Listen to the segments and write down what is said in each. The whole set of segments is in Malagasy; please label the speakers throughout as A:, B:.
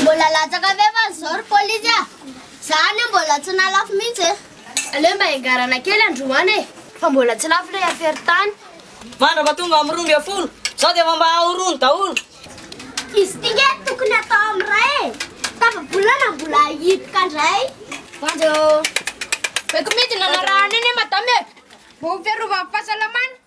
A: Mbola latsaka f'efa zao ry polisy a! Za anie mbola tsy nalafo mihitsy e! Aleo mba engarana kely androany e! Fa mbola tsy lafo le affaire tany! Mandra mba tonga amin'ny roa ambin'ny folo, zao dia efa mba ahoroany daholo! Izy ty nge tokony atao amin'ny ray e! Tafabolana mbola hihiboka ndray! Mandra ô! Beko mihitsy nanarahana anie madame e! Mba ho fiarovany fahasalamany!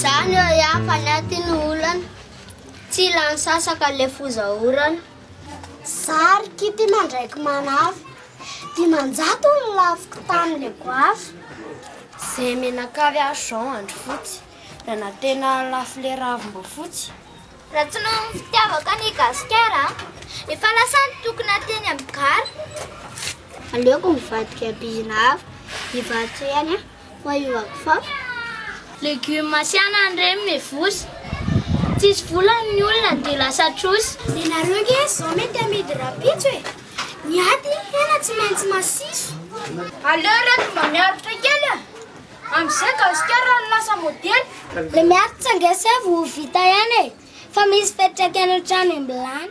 A: Zany eo ihany fa ny aty no olana Tsy lany sasaka le foza orana Zary kity mandraiky manafo Dimanjato ny lafiko tany le goafy Zay menaka ry azy zao andro fotsy Raha na tena lafo le ravim-boafotsy Raha tsy noho ny fitiavako an' i Gasikara Efa lasa ny tokony ateny amin'ny gara Aleoko mivadika am-pihina hafa Ivato ihany an! fa io vakifafa. Legume asiana any reny mevosy. Tsisy vola ny olona dia lasa trosa. Ianareo ange zao mety hamidy rapitso e! Ny aty hena tsy maintsy masiso. Aleo reto mba miaritra kely e! Amzay gasikara no lasa modely. Le miaritra ange seza vao ho vita ihany e! Fa misy fetraka any antrano imblany.